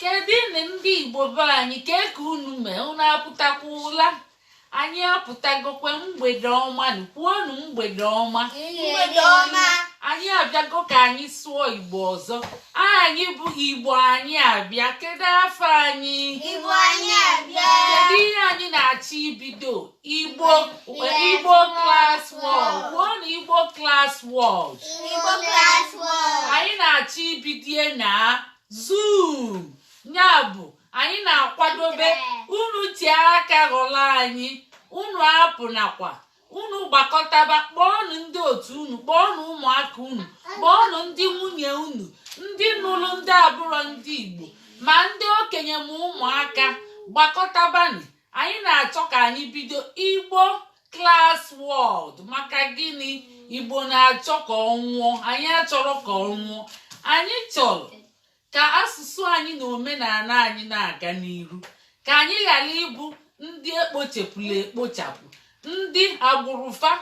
kedunụ ndị igbo be anyị kee ka unu mee unu apụtakwula anyị apụtagokwe mgbede ọma kwuonu mgbede ọma anyị abịago ka anyị sụọ igbo ọzọ anyị bụ igbo anyị abịa kedu afọ anyị kedu ihe anyị na-achọ ibido igbo igbo class world kwuonu igbo class world anyị na-achọ ibidie na zoom nya bụ anyị na-akwadobe unu tie aka ghọla anyị unu apụnakwa unu gbakọtaba kpọọnụ ndị otu unu kpọọnụ ụmụaka unu kpọọnụ ndị nwunye unu ndị nụlụ ndị abụrọ ndị igbo ma ndị okenye ma ụmụaka gbakọtabanụ anyị na-achọ ka anyị bido igbo class world maka gịnị Igbo na-achọ ka ọ nwụọ anyị achọrọ ka ọ nwụọ anyị chọrọ ka asụsụ anyị na omenana anyị na-aga n'iru ka anyị ghara ịbụ ndị e kpochapụlụ ekpochapụ ndị agbụrụ fa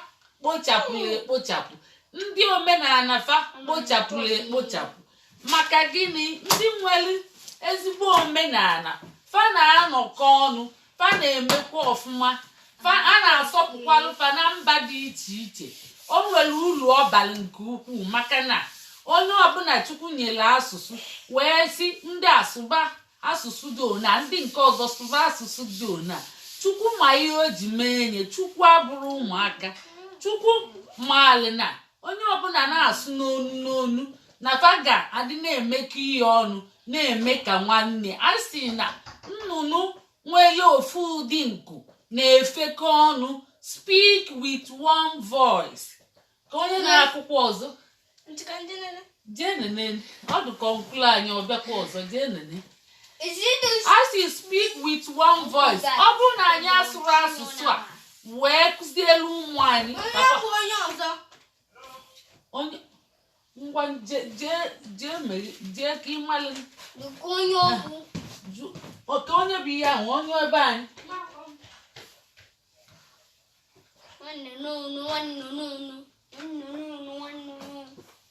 kpochapụlụ ekpochapụ ndị omenana fa kpochapụlụ ekpochapụ maka gịnị ndị nwere ezigbo omenana fa na-anọkọ ọnụ fa na-emekwa ọfụma a na-asọpụkwalụ fa na mba dị iche iche o nwere uru ọ balị nke ukwuu maka na onye ọbụna chukwu nyere asụsụ wee sị ndị a sụba asụsụ dị ona ndị nke ọzọ sụba asụsụ dị ona chukwu ma ihe o ji mee nye chukwu abụrọ ụmụaka chukwu maalị na onye ọbụna na-asụ n'onu n'onu na fa ga-adị na-emekọ ihe ọnụ na-eme ka nwanne a sị na nnụnụ nwere ofu ụdị nku na-efekọ ọnụ speak with one voice kee onye na-akụkwa ụzọ jee nene ọ dị ka uncle anyị ọ bịakwa ọzọ jee nene as you speak with one voice ọ bụrụ na anyị asụrụ asụsụ a wee kụzielụ ụmụ anyị onye ngwa jee ka ị malụ oke onye bụ ihe ahụ onye be anyị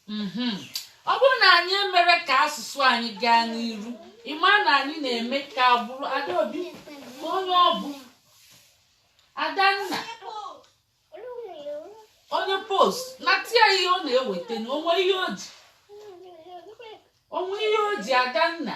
mhm. ọ bụrụ na anyị mere ka asụsụ anyị gaa n'iru ị ma na anyị na-eme ka agbụrụ adaobi ka onye ọ bụ adanna onye post na tia ihe ọ na-eweta na o nwe ihe o ji o nwe ihe o ji adanna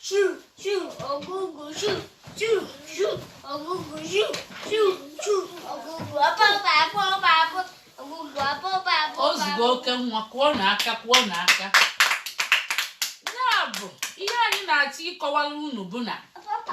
Şu, şu, agugu, şu, şu, şu, agugu, şu, şu, şu, agugu, apa, apa, apa, apa, apa, agugu, apa, apa, apa, O zugo oke nwa kụọ na aka kụọ na aka. Ya bụ ihe anyị na-achọ ịkọwara unu bụ na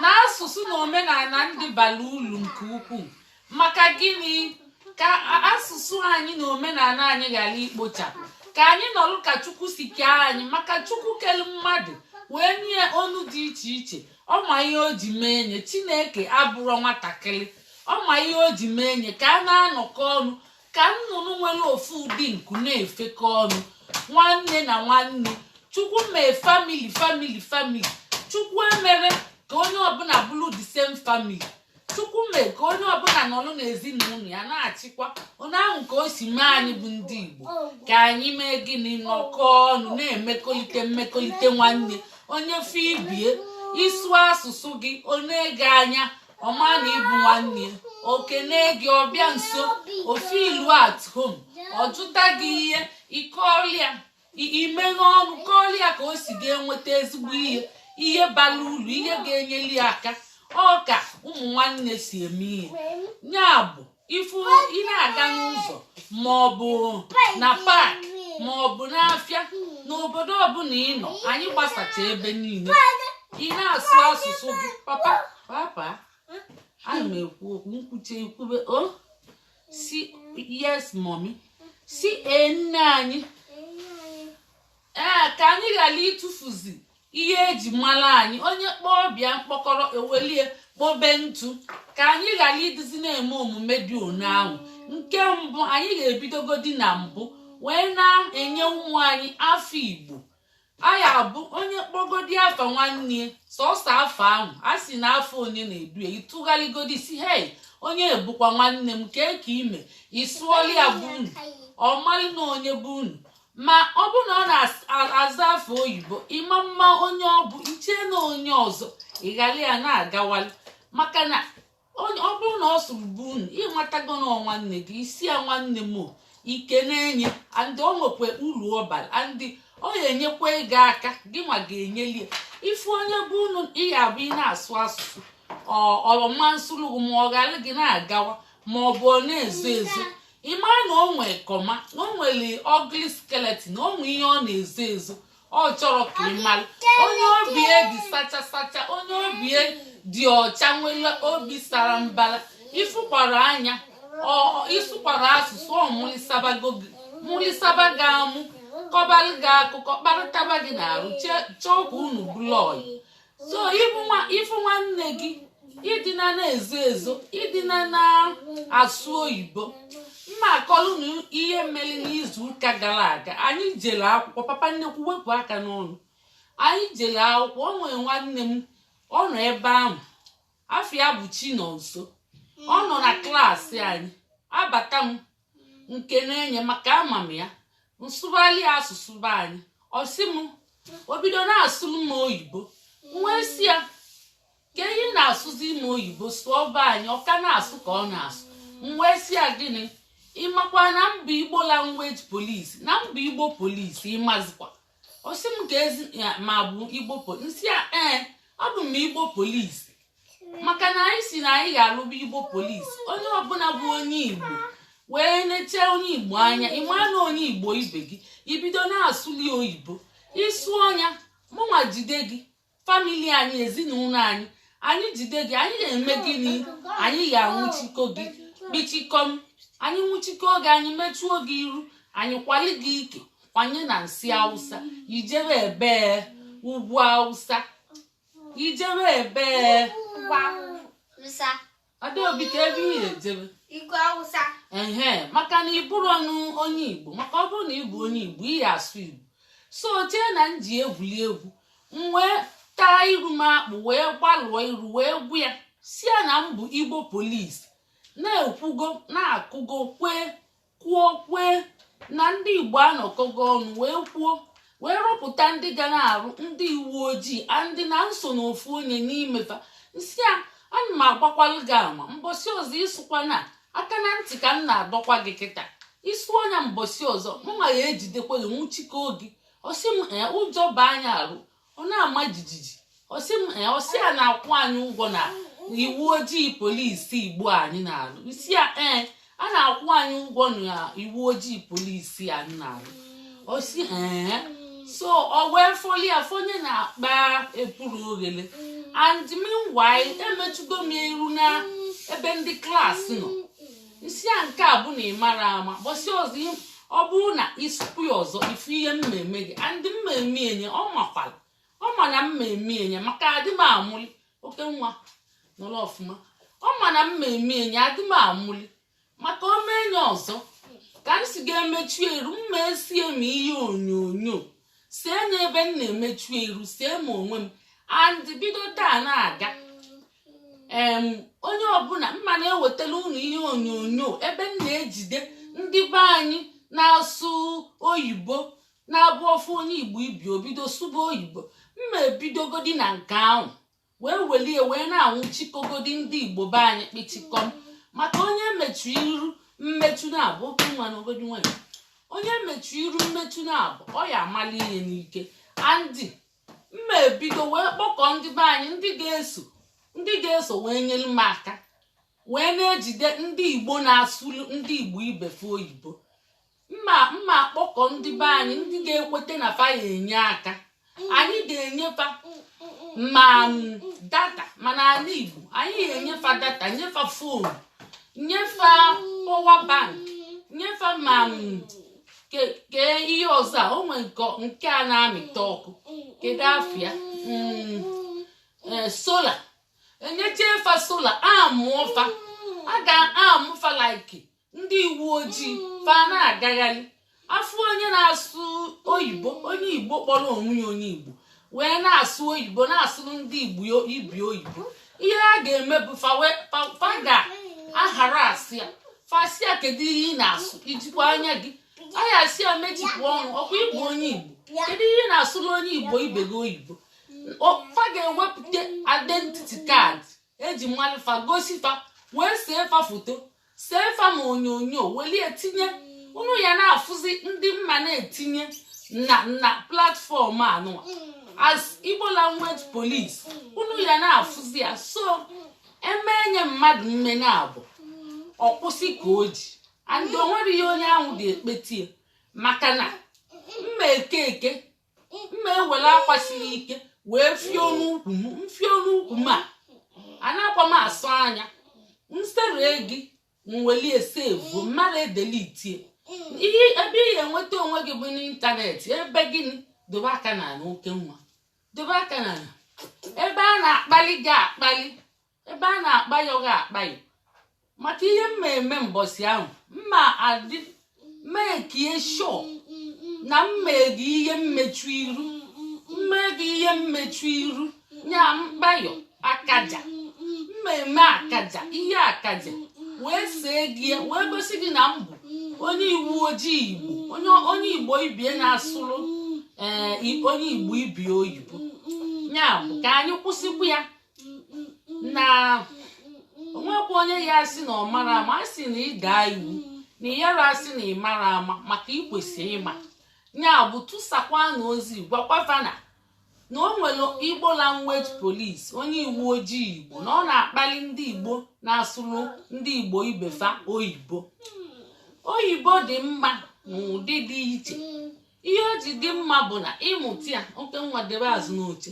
n'asụsụ na omenala ndị bara uru nke ukwuu maka gịnị ka asụsụ anyị na omenala anyị ghara ikpochapụ ka anyị nọrụ ka chukwu si kee anyị maka chukwu kelu mmadụ wee nye ọnụ dị iche iche ọ ma ihe o ji mee nye chineke abụrọ nwatakịrị ọ ma ihe o ji mee nye ka a na-anọkọ ọnụ ka nnụnụ nwere ofu ụdị nku na-efekọ ọnụ nwanne na nwanne chukwu mee family family family chukwu emerọ ka onye ọbụla bụrụ the same family chukwu mee ka onye ọbụla nọrọ n'ezinụlọ ya na-achịkwa one ahụ ka o si mee anyị bụ ndị igbo ka anyị mee gịnị nọkọ ọnụ na-emekọlite mmekọlite nwanne onye fụ ibe ya ị sụọ asụsụ gị o nee gị anya ọ mara na ị bụ nwanne ya o kene gị ọ bịa nso ọ feel at home ọ jụta gị ihe ị kọọrọ ya i meghe ọnụ kọọrọ ya ka o si ga-enweta ezigbo ihe ihe bara uru ihe ga-enyeli aka ọ ka ụmụ nwanne si eme ihe ya bụ ị fụ ị na-aga n'ụzọ ma ọ bụ na park ma ọ bụ n'afịa n'obodo ọbụla ị nọ anyị gbasacha ebe niile ị na-asụ asụsụ gị papa papa ana m ekwu okwu m kwuchaa i kwube o sị yes mommy sị ee nne anyị ee ka anyị ghara ịtụfuzi ihe e ji mara anyị onye kpọọ ọba ya mkpọkọrọ e weli ya kpobe ntụ ka anyị ghara ịdịzi na-eme omume dị one ahụ nke mbụ anyị ga-ebidogodi na mbụ wee na-enye ụmụ anyị afa igbo ọ ya-abụ onye kpọgodi afa nwanne sọsọ afa ahụ a sị na afa onye na-edu ya ị tụgharịgodi sị hei onye a bụkwa nwanne m kee ka i me ị sụọli ya be unu ọ malị na onye be unu ma ọ bụ na ọ na-aza afa oyibo ị ma ma onye ọ bụ i chee na onye ọzọ ị ghara ya na-agawali maka na ọ bụrụ na ọ sụrụ be unu ị matago na nwanne gị ị sị ya nwanne m i kenee ya and o nwekwa uru ọ bara and ọ ga-enyekwa gị aka gị nwa ga-enyeli ya ị fụ onye be unu ị ga-abụ ị na-asụ asụsụ ọ ma nsụlụ gị ma ọ ghara gị na-agawa ma ọ bụ ọ na-ezo ezo ị ma na o nwee kọma na o nwere ugly skeleton na o nwee ihe ọ na-ezo ezo ọ chọrọ ka ị mara onye obi ya dị sacha sacha onye obi ya dị ọcha nwere obi sara mbara ị fụkwara anya ị sụkwara asụsụ ọ mụlisaba gị amụ kọbalụ gị akụkọ kparịtaba gị n'arụ chọọ ka unu bụlụ ọyị so ị fụ nwanne gị ịdịna na-ezo ezo ịdịna na-asụ oyibo m ma-akọlụ unu ihe mere n'izu ụka gara aga anyị jere akwụkwọ papa nnekwu wepụ aka n'ọnụ anyị jere akwụkwọ o nwere nwanne m ọ nọ ebe ahụ afa ya bụ chinonso ọ nọ na klaasị anyị abata m m kenee ya maka ama m ya m sụbalị ya asụsụ be anyị ọ sị m o bido na-asụlị m oyibo m wee sị ya kee ihe ị na-asụzili m oyibo sụọ be anyị ọ ka na-asụ ka ọ na-asụ m wee sị ya gịnị ị makwa na m bụ igbo language polisi na m bụ igbo polisi ị mazikwa ọ sị m keezi ma bụ igbo m sị ya ee abụ m igbo polisi maka na anyị sị na anyị ga-alụba igbo polisi onye ọbụla bụ onye igbo wee nechaa onye igbo anya ị ma na onye igbo ibe gị i bido na-asụlị ya oyibo ị sụọ nya mụnwa jide gị famili anyị ezinụlọ anyị anyị jide gị anyị ga-eme gịnị anyị ga-anwụchikọ gị kpichikọm anyị nwụchikọ gị anyị mechuo gị iru anyị kwali gị ike kwanye na nsị awụsa i jebe ebee ugwu awụsa i jebe ebee Adaobi kee ebe ị ya-ejebe Ugwu Awụsa. ehe maka na ị bụrọnụ onye Igbo maka ọ bụrụ na ị bụ onye Igbo ị ya-asụ Igbo so o chee na m ji egwuli egwu m wee taa iru m akpụ wee gbalụọ iru wee gwa ya sị ya na m bụ Igbo polisi na-ekwugo na-akụgo kwee kwuo kwe na ndị Igbo anọkọgo ọnụ wee kwuo wee rọpụta ndị ga na-arụ ndị uwe ojii and na m so n'ofu onye n'ime fa m sị ya ana m agbakwalụ gị ama mbọsị ọzọ ị sụkwana aka na ntị ka m na-adọkwa gị kịta ị sụọ nya mbọsị ọzọ mụnwa ya-ejidekwa gị nwụchikọ gị ọ sị m ụjọ baa nya arụ ọ na-ama jijiji ọ sị m eh, ọ sị a na-akwụ anyị ụgwọ na uwe ojii polisi igbo anyị na-alụ m sị ya ee eh, a na-akwụ anyị ụgwọ na uwe ojii polisi anyị na-alụ ọ sị ee eh, so ọ wee foli ya fonye n'akpa e puru oghele and meanwhile emechugo m iru na ebe ndị klaasị nọ m sị ya nke a bụ na ị mara ama ụbọsị ọzọ ọ bụrụ na ị sụpụ ya ọzọ ị fụ ihe m ma-eme gị and m ma-emenye ọ makwala ọ ma na m ma-emenye maka adị m amụli oke nwa nọrọ ọfụma ọ ma na m ma-emenye adị m amụli maka o menye ọzọ ka m si ga-emechu iru m ma-esee m ihe onyonyo see na ebe m na-emechu iru see m onwe m and bido taa na-aga onye ọbụla m ma na-ewetara unu ihe onyonyo ebe m na-ejide ndị be anyị na-asụ oyibo na-abụ ọ fụ onye igbo ibe ya o bido sụba oyibo m ma-ebidogodi na nke ahụ wee welie wee na-anwụchikọgodi ndị igbo be anyị kpịchịkọm maka onye m mechu iru mmechu naabọ oke nwa nọgodi nwayọ onye m mechu iru mmechu naabọ ọ ya-amali ihe n'ike and m ma-ebido wee kpọkọ ndị be anyị ndị ga-eso ndị ga-eso wee nyere m aka wee na-ejide ndị igbo na-asụlụ ndị igbo ibe fa oyibo m ma-akpọkọ ndị be anyị ndị ga-ekweta na fa ya-enye aka anyị ga-enye fa ma m, data ma n'ala igbo anyị ga-enye fa data nye fa fon nye fa power bank nye fa ma m, kee ihe ọzọ a o nwere nke a na-amịta ọkụ kedu afa ya hmm. eh, solar e nyecha fa solar a mụọ fa a ga-amụ fa like ndị uwe ojii fa na-agagharị afụ onye na-asụ oyibo onye igbo kpọrọ onwe ya onye igbo wee na-asụ oyibo na-asụrụ ndị igbo ibe ya oyibo ihe a ga-eme bụ fa ga-ahara asị ya fa sị ya kedu ihe ị na-asụ i jikwa anya gị a ya-asị ya mechipụ ọnụ ọ kwa ị bụ onye igbo kedu ihe ị na-asụrụ onye igbo ibe gị oyibo fa ga-ewepụta identity card e ji malụ fa gosi fa wee see fa foto see fa ma onyonyo welie tinye unu ya na-afụzi ndị m ma na-etinye na na platform anụwa as igbo language police unu ya na-afụzi ya so e menye mmadụ mme naabọ ọ kwụsị ka o ji and o nwere ihe onye ahụ dị ekpetie maka na m ma-eke eke m ma-ewere akwa siri ike wee fie n'ukwu m m fie n'ukwu m a anakwa m asọ anya m sere gị m welie save mmadụ edelitie ihe ebe ị ya-enweta onwe gị bụ n'ịntanetị ebe gịnị dobe aka n'ala oke nwa dobe aka n'ala ebe a na-akpali gị akpali ebe a na-akpayọ gị akpayọ maka ihe m ma-eme mbọsị ahụ mma adị mee ka ihe show na m mee gị ihe mmechu iru m mee gị ihe mmechu iru nya m kpayọ akaja m ma-eme akaja ihe akaja wee see gị ya wee gosi gị na m bụ onye uwe ojii igbo onye onye igbo ibie na-asụrụ ee i- onye igbo ibie oyibo nya bụ ka anyị kwụsịkwu ya na o nwekwa onye ya-asị na ọ mara ama a sị na ị daa iwu na ị yarọ asị na ị mara ama maka i kwesị ịma nya bụ tụsakwanụ ozi gwakwa fa na na o nwere igbo language police onye uwe ojii igbo na ọ na-akpali ndị igbo na-asụrụ ndị igbo ibe fa oyibo oyibo dị mma n'ụdị dị iche ihe o ji dị mma bụ na ị mụta ya oke nwa debe azụ n'oche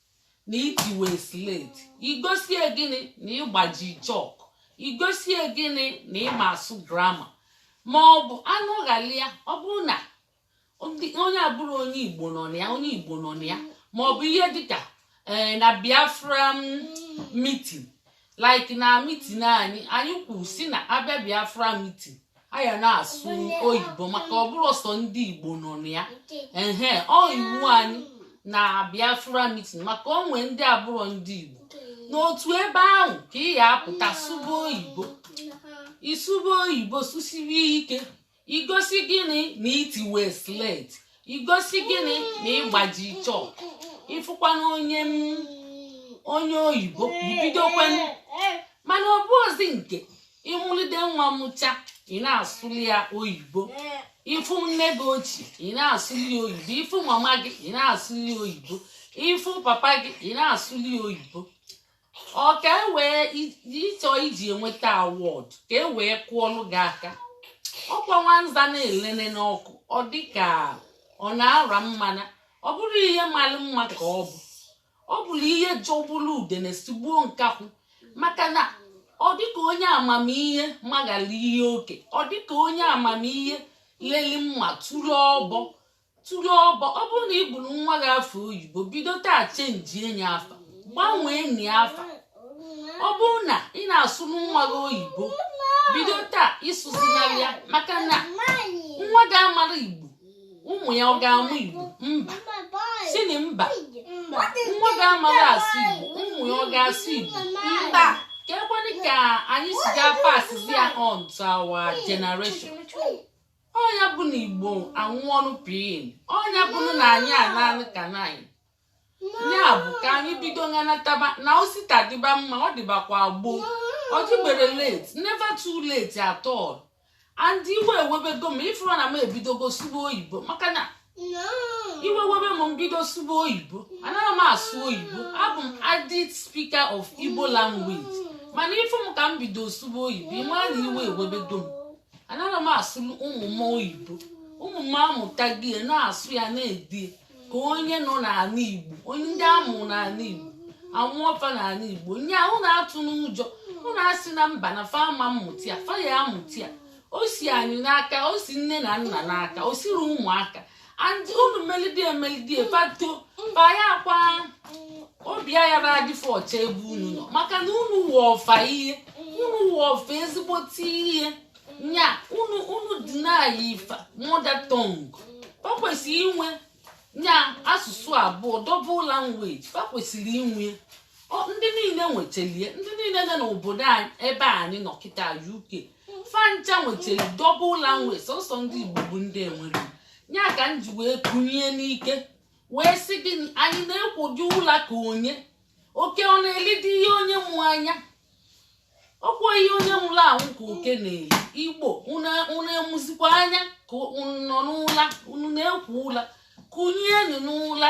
na i tiwe slate i gosie gịnị na ị gbaji chalk i gosie gịnị na ị ma asụ grammar ma ọ bụ a nọghalịa ọ bụrụ na onye abụrọ onye igbo nọ na ya onye igbo nọ na ya ma ọ bụ ihe dịka eh, na biafra meeting like na meeting anyị anyị kwuru sị na a bịa biafra meeting a ya na-asụ oyibo maka ọ bụrọ sọ ndị igbo nọ na ya ehe ọ iwu anyị na biafra meeting maka o nwe ndị abụrọ ndị igbo n'otu ebe ahụ ka ị ya-apụta sụba oyibo ị sụba oyibo sụsiwe ike i gosi gịnị na i tiwe slate i gosi gịnị na ị gbaji chalk ị fụkwanụ onye m onye oyibo i bidokwanụ mana ọ bụzị nke ị mụlide nwa mụcha ị na-asụli ya oyibo ị fụ nne gị ochie ị na-asụli ya oyibo ị fụ mama gị ị na-asụli ya oyibo ị fụ papa gị ị na-asụli ya oyibo ọ ka e wee ị chọ iji enweta award ka e wee kụọlụ gị aka ọ kwa nwanza na-ele ele n'ọkụ ọ dị ka ọ na-ara mmanụ ọ bụrọ ihe malụ mma ka ọ bụ ọ bụrụ ihe jọgburu udene sigbuo nkakwụ maka na ọ dịka onye amamihe magalụ ihe oke ọ dịka onye amamihe leli mma tụrụ ọbọ tụrụ ọbọ ọ bụrụ na ị gụburu nwa gị afa oyibo bido taa chenjie nya afa gbanwee nya afa ọ bụrụ na ị na-asụrụ nwa gị oyibo bido taa ịsụzinarị ya maka na nwa gị amara igbo ụmụ ya ọ ga-ama igbo mba sị na mba nwa gị amara asụ igbo ụmụ ya ọ ga-asụ igbo mba kekwanụ ka anyị si gaa pasizi ya on to our generation ọ nya bụ na igbo anwụọnụ pii ọ nya bụrụ na anyị ananị ka nanyị ya bụ ka anyị bido nga nataba na o si taa dịba mma ọ dịbakwa gboo ọ dịbere late never too late at all and iwe ewebego m ị fụrụ na m ebidogo sụba oyibo maka na iwe webe m m bido sụba oyibo anaghị m asụ oyibo abụ m addict speaker of igbo language mana ị fụ m ka m bido sụba oyibo ị ma na iwe ewebego m anaghị m asụ ụmụ m oyibo ụmụ m amụtago ya na-asụ ya na-adị ka onye nọ n'ala igbo onye ndị a mụ n'ala igbo amụọ fa n'ala igbo nya unu atụna ụjọ unu asịna mba na fa ama amụta ya fa ya-amụta ya o si anyị n'aka o si nne na nna n'aka o siri ụmụaka and unu melidie melidie fa too fa ya-akwa obi ayara adị fa ọcha ebe unu nọ maka na unu wọọ fa ihe unu wọọ fa ezigbote ihe nya unu deny fa mother tongue fa kwesịrị inwe nya asụsụ abụọ double language fa kwesịrị inwe ndị niile nwechelie ndị niile nọ n'obodo anyị ebe anyị nọ kịta uk fa ncha nwecheri double language sọsọ ndị igbo bụ ndị enwere nya ka m ji wee kunie n'ike wee sị gị anyị na-ekwoju ụla ka onye oke ọ na-elidi ihe onye mụ anya ọ kwa ihe onye nwụrụ anwụ ka oke na-eli igbo unu amụzikwa anya ka unu nọ n'ụla unu na-ekwo ụla kunienụ n'ụla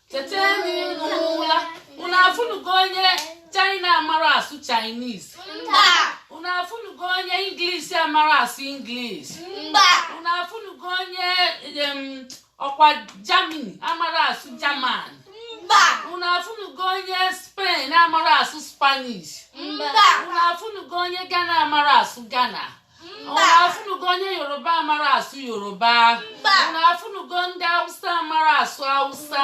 Tetenụ n'ụla unu afụnugo onye China amara asụ Chinese unu afụnugo onye English amara asụ English unu afụnugo onye em, ọkwa Germany amara asụ German unu afụnugo onye Spain amara asụ Spanish unu afụnugo onye Ghana amara asụ Ghana afụnugo onye yoruba amara asụ yoruba unu afụnugo ndị awụsa amara asụ awụsa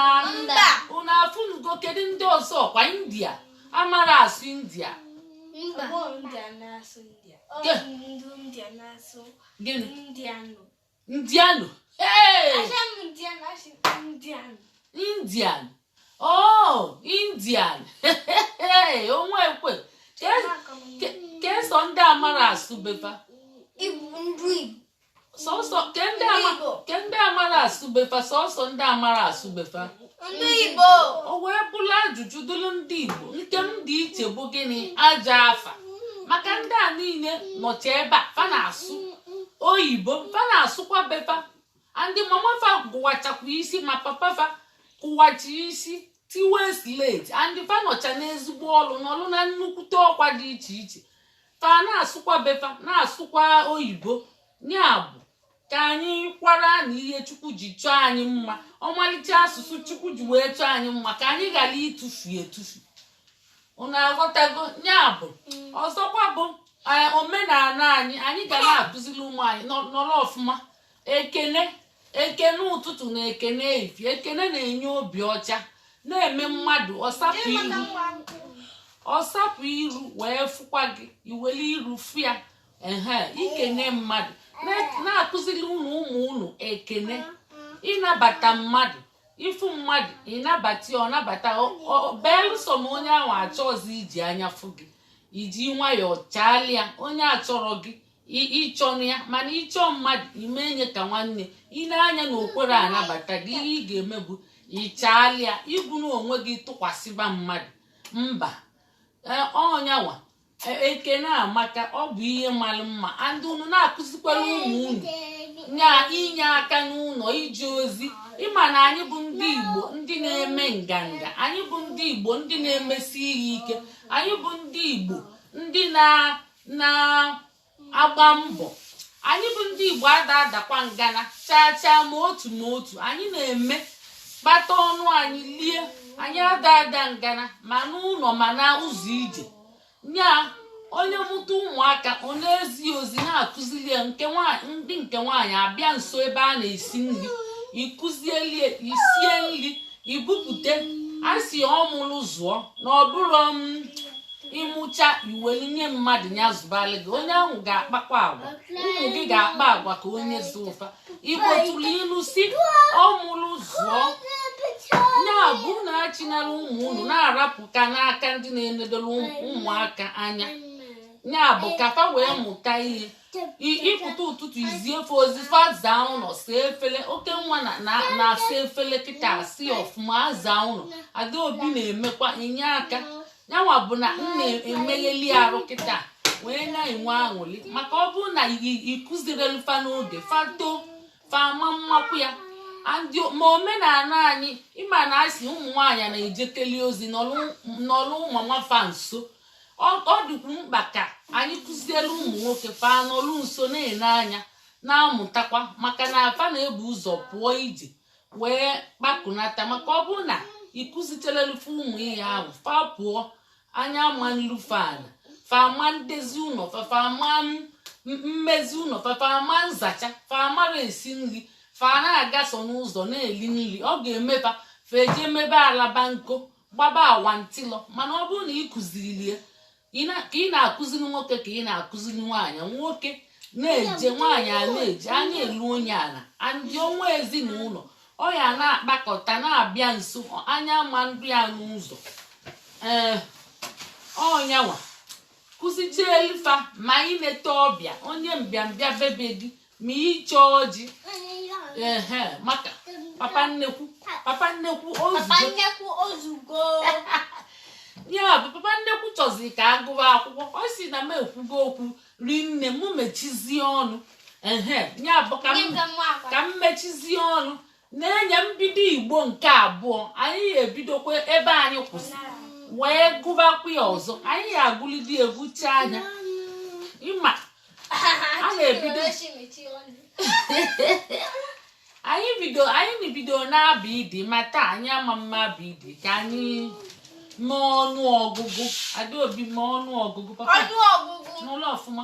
unu afụnugo kedu ndị ọzọ ọkwa india amara asụ india gịnị Indian o. Hey! Indian. Oh, Indian. Hey, onwe ekwe. Ke sọ ndị amara asụ be fa? Ke ndị amara asụ be fa? Sọsọ ndị amara asụ be fa? ndị Igbo o wee bụlụ ajụjụ dụlụ ndị Igbo nke m dị iche bụ gịnị aja afa maka ndị a niile nọcha ebe a fa na-asụ oyibo fa na-asụkwa be fa ndị mama fa kụwachakwa isi ma papa fa kụwacha isi tiwe slate and fa nọcha n'ezigbo ọlụ n'ọlụ na nnukwute ọkwa dị iche iche fa na-asụkwa be fa na-asụkwa oyibo ya bụ ka anyị kwara na ihe chukwu ji chọọ anyị mma ọmalịcha asụsụ chukwu ji wee chọọ anyị mma ka anyị ghara itufu etufu unu aghọtago ya bụ ọzọkwa bụ eh, omenala anyị anyị ga na-akụziri ụmụ anyị nnọọ ọfụma ekene ekene ụtụtụ na ekene efifie ekene na-enye obi ọcha na-eme mmadụ ọ sapụ iru ọ sapụ iru wee fụkwa gị i were iru fụ ya ehe ikene mmadụ na-akụziri ụmụ ụmụ unu ekene ịnabata mmadụ ị fụ mmadụ ị nabata ya ọ nabata belụsọ ma onye ahụ achọzi iji anya fụ gị i ji nwayọọ chaalụ ya onye achọrọ gị ị chọna ya mana ị chọ mmadụ i mee ya ka nwanne i nee anya na o kwerọ anabata gị ihe ị ga-eme bụ ịchaalụ ya i buna onwe gị tụkwasịba mmadụ mba e, ọ nyanwa e, ekene amaka ọ bụ ihe mara mma and unu na-akụzikwara ụmụ unu na inye aka n'ụlọ ije ozi ị ma na anyị bụ ndị igbo ndị na-eme nganga anyị bụ ndị igbo ndị na-emesi ihe ike anyị bụ ndị igbo ndị na na agba mbọ anyị bụ ndị igbo ada adakwa ngana chaa chaa ma otu ma otu anyị na-eme kpata ọnụ anyị lie anyị ada ada ngana ma n'ụlọ ma na ụzọ ije nya onye mụta ụmụaka ọ na-ezi ozi na-akụzili ya ndị nke nwaanyị abịa nso ebe a na-esi nri ị kụzielu ya isie nri ibupute a sị ọ mụrụ zụọ na ọ bụrụ ma ị mụcha i welu nye mmadụ ya zụbalụ gị onye ahụ ga-akpakwa agwa ụmụ gị ga-akpa agwa ka onye zụụ fa igbo tụrụ ilu sị ọ mụrụ zụọ ya bụ na achịnala ụmụ unu na-arapụka n'aka ndị na-enedolu ụmụaka anya ya bụ ka fa wee mụta ihe ị pụta ụtụtụ i zie fa ozi fa zaa ụlọ saa efele okenwa na-asa efele kịta si ọfụma azaa ụlọ adaobi na-emekwa inye aka yanwa bụ na m na-emegheli arụ kịta wee na-enwe aṅụli maka ọ bụrụ na ị kụzirọlụ fa n'oge fa too fa ama mmakwụ ya ma omenala anyị ị ma na a sị ụmụ nwaanyị na-ejekeli ozi nọlụ ụmụ nwa fa nso ọ dịkwu mkpa ka anyị kụziere ụmụ nwoke fa nọlụ nso na-ele anya na-amụtakwa maka na fa na-ebu ụzọ pụọ ije wee kpakụnata maka ọ bụrụ na ị kụzichelọlụ fa ụmụ ihe ahụ fa pụọ anya ama nlu fa ala fa ama ndezi ụlọ fa fa ama mmezi ụlọ fa fa ama nzacha fa amarọ esi nri fa na-agaso n'ụzọ na-eli nri ọ ga-emeba fa eje mebe alaba nko gbaba awa ntịlọ mana ọ bụrụ na ị kụzirili ya ka ị na-akụziri nwoke ka ị na-akụziri nwaanyị nwoke na-eje nwaanyị a na-eje onye elu onye ala a na-eje ọnwa ezinụlọ ọ ya na-akpakọta na-abịa nso anya ma ndị ya n'ụzọ ee ọ nya nwa kụzicheli fa ma inete ọbịa onye mbịambịa bịa be gị ma iche ọjị ehe maka papa nnekwu papa nnekwu o zugo ya bụ papa nnekwu chọziri ka a gụwa akwụkwọ ọ sị na m ekwugo okwu rinne m mechizie ọnụ ehe ya bụ ka m mechizie ọnụ na-enye mbido igbo nke abụọ anyị ebidokwa ebe anyị kwụsị wee gụbakwa ya ọzọ anyị ya-agụlịdị agụchaa nya ị ma a na-ebido anyị bido anyị bido na abịịdịị ma taa anyị ama eme abịịdịị ka anyị mee ọnụ ọgụgụ adaobi mee ọnụ ọgụgụ papa n'ụlọ ọfụma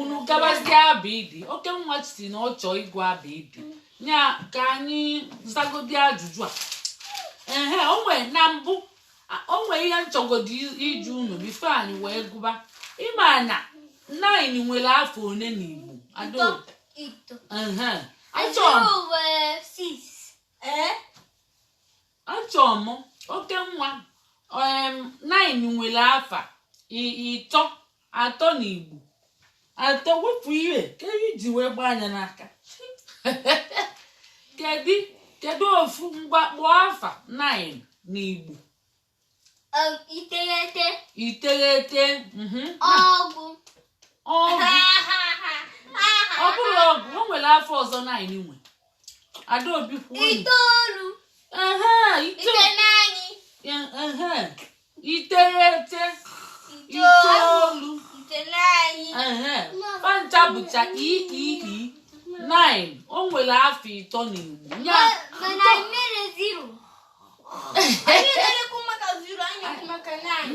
unu gabazie abịịdịị okenwa sị na ọ chọọ ịgụ abịịdịị ya ka anyị zagodi ajụjụ a ehe o nwe na mbụ o nwe ihe m chọgodi ịjụ unu before anyị wee gụba ị ma na nine nwere afa one na igbo adaobi achọ m okenwa nine nwere afa ịtọ atọ na igbo atọ wepụ ihe ka i ji wee gbaa ya n'aka kedu kedu ofu ngwa kpọọ afa 9 na igbo um, iteghete iteghete mhm. ọgụ ọgụ ọ bụrụ ọgụ o nwere afa ọzọ 9 nwe adaobi kwuo itoolu iteghete itoolu fa ncha bụcha iii nine o nwere afa ịtọ na igbo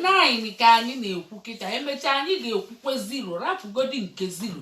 nine ka anyị na-ekwu kịta emechaa anyị ga-ekwukwe zero rapụgodi nke zero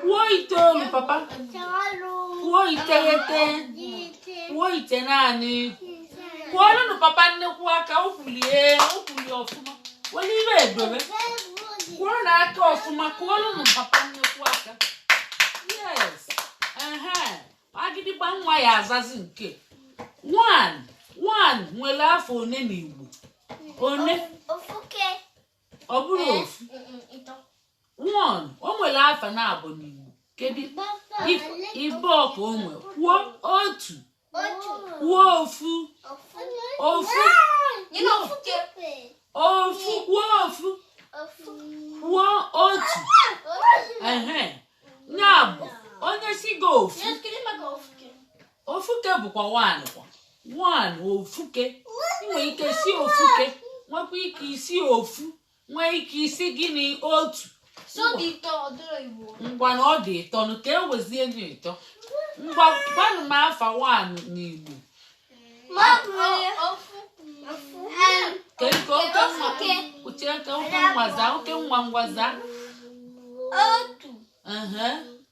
kwuo itoolu papa kwuo iteghete kwuo itenaanị kụọlụnụ papa nnekwu aka o kwulie o kwulie ọfụma wele ibe edobe kụọnụ aka ọfụma kụọlụnụ papa nnekwu aka yes ehe agịdịgba nwa ya-azazi nke one one nwere afa one na igbo one ọ bụrụ eh, ofu wan o nwere afa naabọ n'igbo kedu ibe ọka o nwe kwuo otu kwuo ofu ofu ofu kwuo ofu kwuo otu ehe ya bụ onye sị gị ofu ofuke bụkwa wan kwa wan ofuke nwee ike ịsị ofuke nwekwa ike ịsị ofu nwee ike ịsị gịnị otu ngwanụ ọ dị ịtọ nụ ka e wezie nye ịtọ ngwa gwanụ m afa wan n'igbo kedu ka oke nwa uche ka oke nwa zaa oke nwa ngwa zaa ehe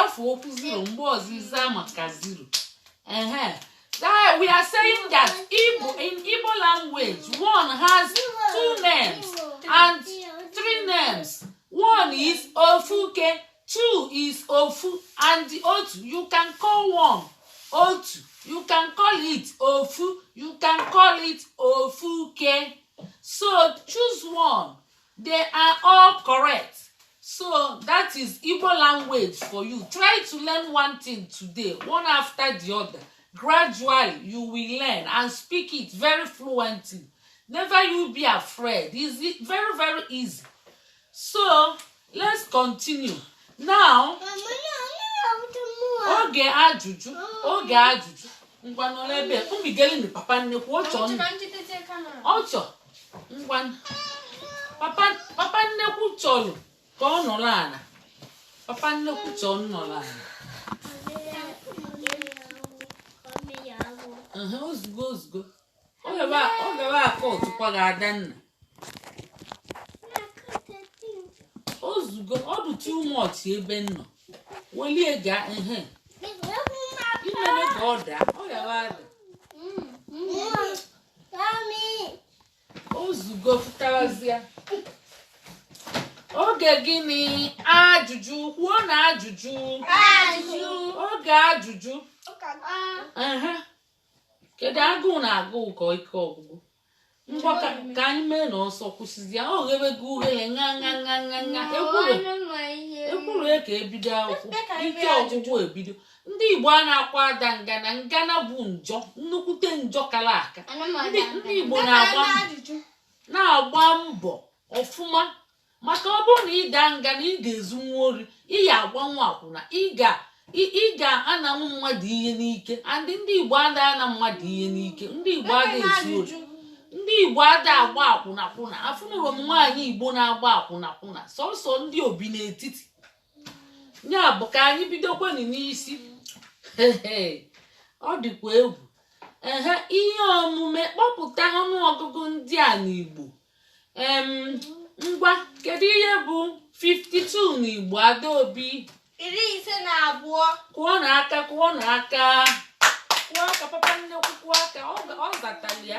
afọ okwu zero mgbe ọzọ iza maka zero ehe That we are saying that Igbo, in Igbo language, one has two names and three names. One is Ofuke, two is Ofu, and the Otu. You can call one Otu. You can call it Ofu. You can call it Ofuke. So choose one. they are all correct so that is igbo language for you try to learn one thing today one after the other gradually you will learn and speak it very fluently never you be afraid is it very very easy so let's continue now oge ajụjụ oge ajụjụ ngwanụ n'ebe ụmụigeli na papa nnekwu ọchọ ọchọ ngwa papa papa nnekwu chọrọ ka ọ nọrọ ala papa nnekwu chọrọ nọrọ ala Aha, ozugbo ozugbo ọ gaba ọ gaba aka ọtụkwa gị adanna ozugbo ọ dị too much ebe m nọ welie gaa ehe i mere ka ọ daa ọ gaba ada ozugbo fụtazịa oge gịnị ajụjụ kwuonụ ajụjụ oge ajụjụ kedu agụụ na-agụ ụ ka ọ ike ọgwụgwụ ngwa ka anyị meenụ ọsọ kwụsịzie o ghebego ughere ṅa ṅa ṅa ṅa ṅa e kwuru ka e bido akwụkwọ ike ọgwụgwụ ebido ndị igbo anakwa ada ngana ngana bụ njọ nnukwute njọ kara aka ndị ndị igbo na-agba mbọ ajụjụ na-agba mbọ ọfụma maka ọ bụrụ na ị daa ngana ị ga-ezu nwa ori ị ya agba nwa akwụna ị ga ị- ị ga-ananwu mmadụ ihe n'ike and ndị igbo ada ana mmadụ ihe n'ike ndị igbo ada Enweghị ezu ori ajụjụ. ndị igbo ada agba akwụna kwụna afụnụrọ m nwaanyị igbo na-agba akwụna kwụna sọsọ ndị obi n'etiti ya bụ ka anyị bidokwanụ n'isi ọ dịkwa egwu ehe ihe omume kpọpụta ọnụọgụgụ ndị a n'Igbo em ngwa kedu ihe bụ 52 n'Igbo Adaobi iri ise na abụọ kụọnụ aka kụọnụ aka kụọ aka papa nnekwu kụọ aka ọ zatara ya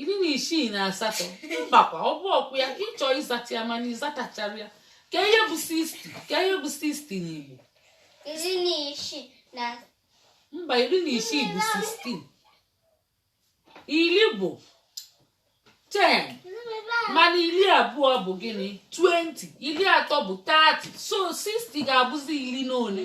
iri na isii na asatọ mbakwa ọ bụ ọkụ ya ị chọ ịzata ya mana ị zatacharọ ya kee ihe bụ 60 kee ihe bụ 60 n'Igbo iri na isii na mba iri na isii bụ 16 iri bụ 10 mana iri abụọ bụ gịnị 20 iri atọ bụ 30 so 60 ga-abụzi iri na ole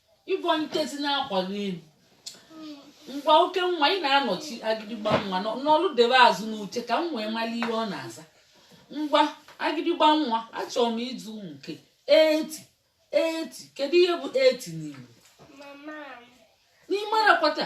ịbọ nkezi na-akwa gị elu ngwa oke nwa ị na-anọchi agịdịgba nwa n'ọlụ debe azụ n'oche ka m wee mara ihe ọ na-aza ngwa agịdịgba nwa achọrọ m ịjụ nke 80 80 kedu ihe bụ 80 n'Igbo n'ime arakwata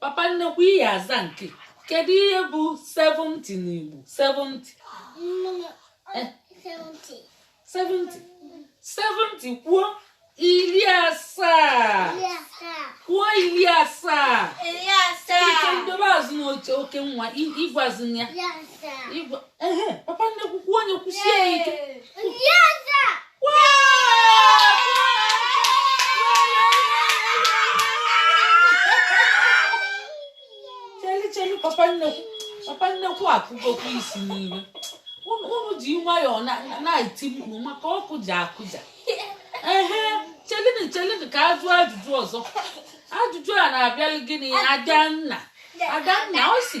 papa nnekwu ị ya-aza nke kedu ihe bụ 70 n'Igbo 70 70 70 kwuo iri asaa kwuo iri asaa ike ndobe azụ n'oche oke nwa ịgwazi ya ehe papa nnekwu kwuo onye kwusie ya ike chelu chelu papa nnekwu papa nnekwu akụgokwa isi n'iwe Unu- unu ji nwayọọ na- na- na-eti mkpu maka ọkụ ji akụja ehe chelini chelini ka a jụọ ajụjụ ọzọ ajụjụ a na-abịalụ gịnị adanna adanna o si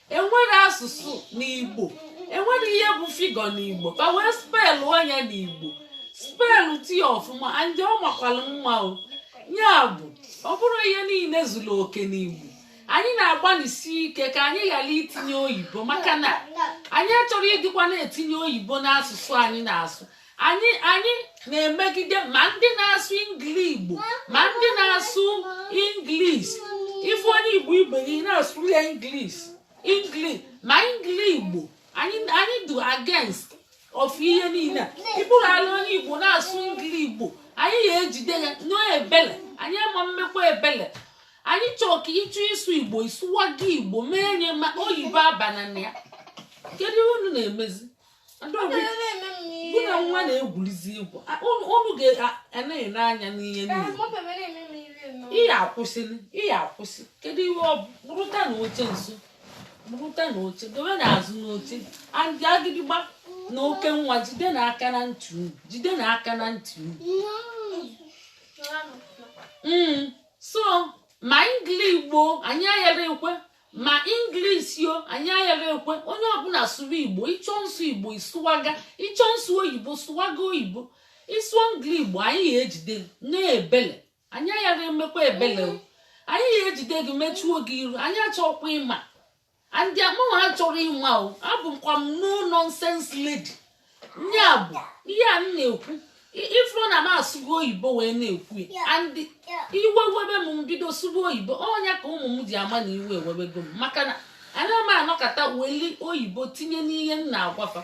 enwere asụsụ n'igbo enwere ihe bụ figure n'igbo ka wee spelụ onye n'igbo spelụ tinye ọfụma and ọ makwalụ mma o ya bụ ọ bụrụ ihe niile zuru oke n'igbo anyị na-agbanịsi ike ka anyị ghara itinye oyibo maka na anyị achọrọ ịdịkwa na-etinye oyibo n'asụsụ anyị na-asụ anyị anyị na-emegide ma ndị na-asụ ingili igbo ma ndị na-asụ English ị fụ onye igbo ibe gị na-asụ ya English English ma ingili igbo anyị anyị dị against of ihe niile ịbụrụ ala onye igbo na-asụ ingili igbo anyị ya-ejide ya n'ebele anyị ama emekwa ebele anyị chọọ ka ị chọọ ịsụ igbo ị sụwaga igbo mee nye ma oyibo abana na ya kedu unu na-emezi gị na nwa na-egwurizi egwu unu ga na-ene anya n'ihe niile ihe akwụsị ihe akwụsị kedu ihe ọ bụrụta na oche nso bụrụta na oche dobenụ azụ n'oche and agịdịgba na oke nwa jidenụ aka na ntị jidenụ aka na ntị hmm, so ma ingili igbo anyị ayara ekwe ma English o anyị ayara ekwe onye ọbụla sụrụ igbo ị chọọ nsụ igbo ị sụwaga ị chọọ nsụ oyibo sụwaga oyibo ị sụọ ingili igbo anyị ya-ejide n'ebele anyị ayara emekwa ebele o anyị ya-ejide gị mechuo gị iru anyị achọrọkwa ịma and mụnwa achọrọ ịma o abụkwa m no nonsense lady nya bụ ihe a m na-ekwu ị fụrụ na m asụgo oyibo wee na-ekwu and iwe webe m m bido sụgo oyibo ọ nya ka ụmụ m ji ama na iwe ewebego m maka na ana m anọkata weli oyibo tinye n'ihe m na-agwa fa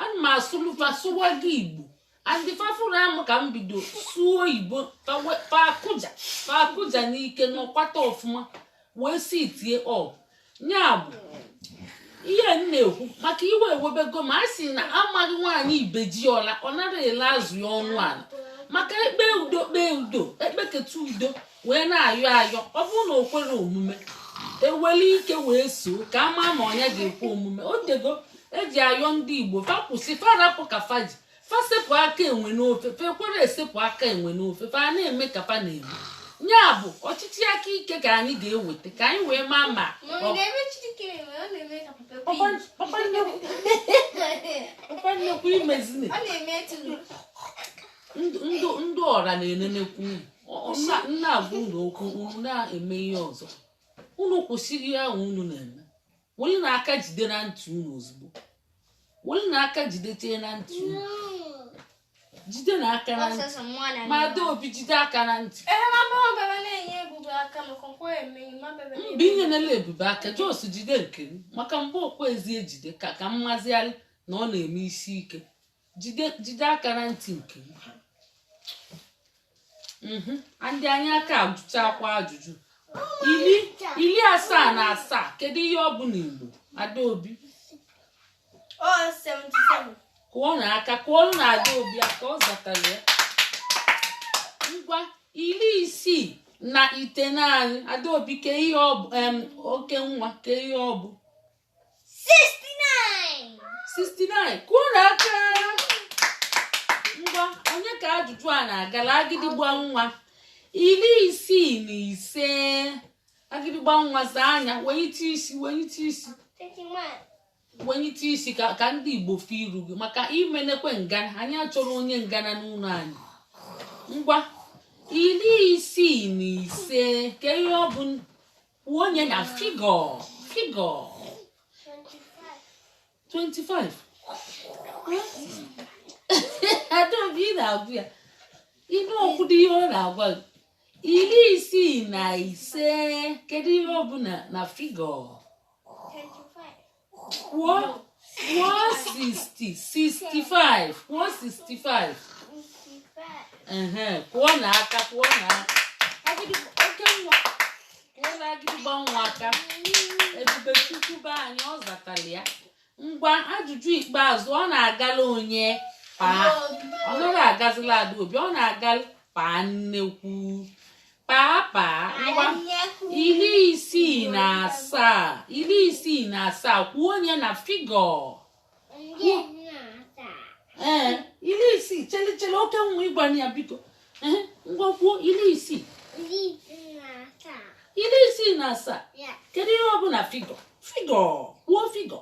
ana m asụlụ fa sụwa gị igbo and fa fụrụ mụ ka m bido sụọ oyibo fa akụja fa akụja n'ike nọkwata ọfụma wee si tie ọ ya bụ ihe m na-ekwu maka iwe ewebego m a sị na amaghị nwaanyị ibeji ọla ọ nara ele azụ ya ọnụ ala maka ekpe udo kpee udo ekpeketa udo wee na-ayọ ayọ ọ bụrụ na o kwere omume eweli ike wee soo ka a maa ma ọ nya ga-ekwe omume o dego eji ayọ ndị igbo fa kwụsị fa rapụ ka fa ji fa sepụ aka enwe n'ofe fa ekwere esepụ aka enwe n'ofe fa na-eme ka fa na-eme nya bụ ọchịchị aka ike ka anyị ga-eweta ka anyị wee maa ma ọkwa m na-ekwu imezine ndị ọra na-ene m na-ekwu m na-agwa unu okwu unu na-eme ihe ọzọ unu kwụsị ihe ahụ unu na-eme were na aka jide na ntị unu ozugbo were na aka jidete na ntị unu jide na aka na ntị Ọsọsọ mụọ na ma nne m. adaobi jide aka na ntị Ee, ma baba baba na-enye ebube aka maka nkwa emeghị ma baba na-enye mgbe ihe nele ebube aka jos jide nke m maka mgbe okwu ezi ejide ka ka mmazigharị na ọ na-eme isi ike jide jide aka na ntị nke gị. Mhm. ndị anyị ka ajụchakwa ajụjụ iri iri asaa na asaa kedu ihe ọ bụ n'oyibo adaobi Ọ 77. kụọnụ aka kụọnụ adaobi aka ọ zatara ya ngwa iri isii na itenaanị adaobi ke ihe ọ bụ em, oke nwa ke ihe ọ bụ 69. 69 kụọnụ aka ngwa onye ka ajụjụ a na-agala agịdịgba nwa iri isii na ise agịdịgba nwa saa anya wenyite isi wenyite isi 31. wenyite isi ka ka ndị igbo fụ iru gị maka imenekwe ngana anyị achọrọ onye ngana n'ụlọ anyị ngwa iri isii na ise ke ihe ọ bụ Onye na figure figure 25 adaobi ị na-agwa ya ị nụkwụdị ihe ọ na-agwa gị iri isii na ise kedu ihe ọ bụ na figure kwuo kwuo 60 65 kwuo 65 ehe kụọnụ aka kụọnụ aka agidi oke nwa kụọnụ agidigba nwa aka ebube chukwu be anyị ọ zatara ya ngwa ajụjụ ikpeazụ ọ na-agala onye paa ọ naghị agazila adaobi ọ na-agala paa nnekwu paa paa ngwa iri isii na asaa iri isii na asaa kwuonụ ya na figure ee iri isii chele chele oke nwa ị gwana ya biko ngwa kwuo iri isii iri isii na asaa kedu ihe ọ bụ na figure figure kwuo figure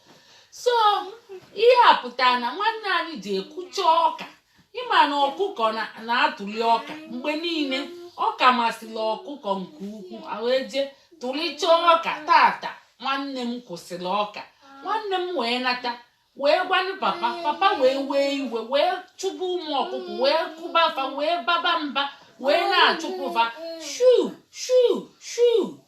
so ihe a pụtara na nwanne anyị jee kụchaa ọka ịma na ọkụkọ na-atụli ọka mgbe niile ọka masịrị ọkụkọ nke ukwuu wee jee tụlichaa ọka tata nwanne m kụsịrị ọka nwanne m wee nata wee gwanụ papa papa wee wee iwe wee chụba ụmụ ọkụkọ wee kụba fa wee baba mba wee na-achụpụ fa shu shu shu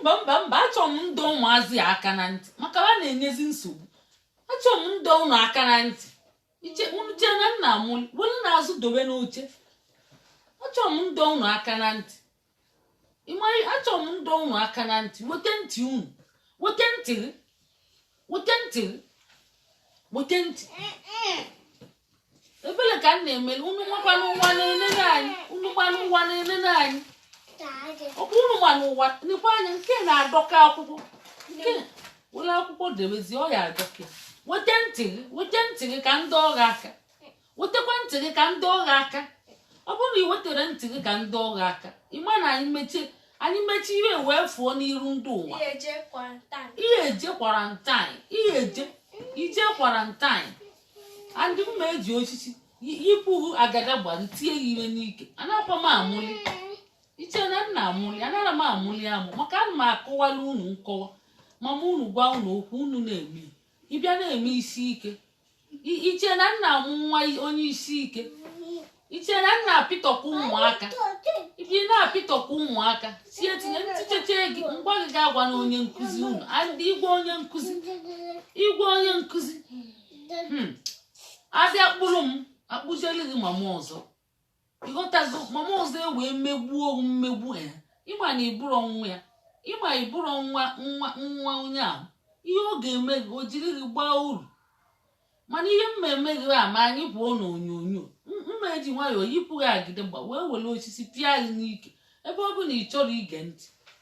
mba mba mba achọrọ m ndọ ụmụazị a aka na ntị maka ha na-enyezi nsogbu achọrọ m ndọ ụnụ aka na ntị iche unu che na m na-amụli welunụ azụ dobe n'oche achọrọ m ndọ ụnụ aka na ntị ịmara achọrọ m ndọ unu aka na ntị weta ntị unu weta ntị gị weta ntị gị weta ntị ebele ka m na-emeli unu makwa na ụwa na-enene anyị unu ma na ụwa na-enene anyị ọ kwa unu ma na ụwa nekwa anyị nke na-adọka akwụkwọ nke were akwụkwọ debezi ọ ya adọka weta ntị gị weta ntị gị ka m dọọ gị aka wetakwa ntị gị ka m dọọ gị aka ọ bụrụ na ị wetara ntị gị ka m dọọ gị aka ịma na anyị mechie anyị mechie ihe wee fụọ n'iru ndị ụwa ị ya-eje quarantine ị ya-eje ije quarantine and m ma eji osisi yipụ gị agada gbara tie ya ire n'ike anakwa m amụli i che na m na-amụli anarọ m amụli amụ maka ana m akọwala unu nkọwa ma m na-agwa unu okwu unu na-eme ị bịa na-eme isi ike i che na m na-amụ nwa onye isi ike i che na m na-apịtọkwa ụmụaka ibi na-apịtọkwa ụmụaka si etinye nticheche gị ngwa gị ga-agwa na onye nkụzi unu and ị gwa onye nkụzi ị gwa onye nkụzi hmm. a bịa kpụrụ m akpụziere gị mama ọzọ ịghọtago mama ọzọ e wee megbuo ohu mmegbu ya ịma na ị bụrọ nwa ya ịma ịbụrụ nwa nwa nwa onye ahụ ihe ọ ga-eme gị o jiri gị gbaa oru mana ihe m ma-eme gị a ma anyị pụọ n'onyonyo m ma-eji nwayọọ yipụ gị agide mgba wee were osisi pịa gị n'ike ebe ọ bụ na ị chọrọ ige ntị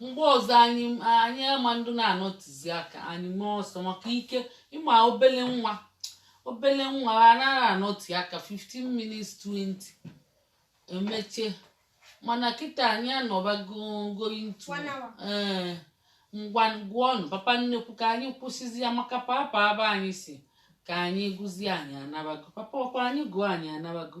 mgbe ọzọ anyị anyị ama ndụ na-anọtịzi aka anyị mee ọsọ maka ike ịma obele nwa obele nwa a naghị anọtị aka 15 minutes 20 emeche mana kịta anyị anọbago going to One hour. ee ngwa gụọnụ papa nnekwu ka anyị kwụsịzi ya maka papa aba anyị si ka anyị gụzie anyị anabago papa ọkwa anyị gụọ anyị anabago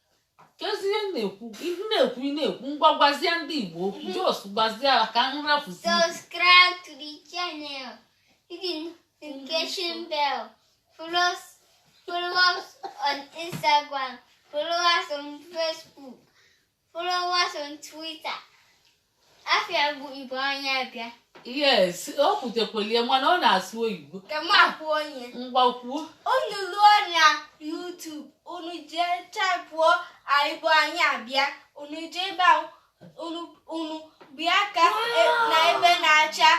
kezi ihe na-ekwu ihe na-ekwu ị na-ekwu ngwa gwazie ndị Igbo okwu mhm. just gwazie ha ka m rafụzi subscribe to the channel hit the notification bell follow us follow us on Instagram follow us on Facebook follow us on Twitter afa ya bụ igbo anyị abịa yes o kwutekwelie mana ọ na-asụ oyibo ka m akwụ onye ngwa kwuo unu luo na YouTube unu jee taịpụọ igbo anyị abịa unu jee ebe a unu unu bịa aka e- na ebe na-acha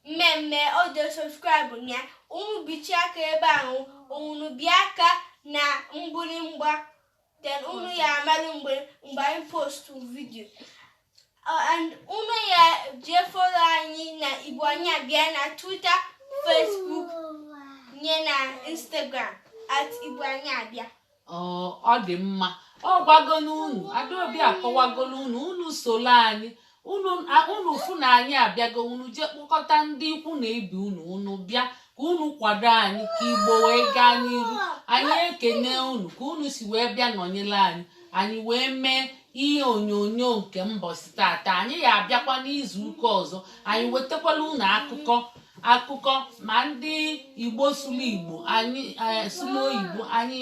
mmee mmee o dee subscribe na ya unu bichie aka ebe ahụ unu bịa aka na mgbịrịmgba then unu ya amalị mgbe mgbe anyị post video and unu ya jee follow anyị na igbo anyị abịa na twitter facebook nye na instagram at igbo anyị abịa ọ dị mma ọ gwagonu unu adaobi akọwagonu unu unu solo anyị unu a- unu fụ na anyị abịago unu jee kpọkọta ndị ikwu na ibe unu unu bịa ka unu kwado anyị ka igbo wee gaa n'iru anyị ekene unu ka unu si wee bịa nọnyere anyị anyị wee mee ihe onyonyo nke mbọsị tata anyị ya abịakwa n'izu ụka ọzọ anyị wetakwala unu akụkọ akụkọ ma ndị igbo sụlụ igbo anyị eh, sụlụ oyibo anyị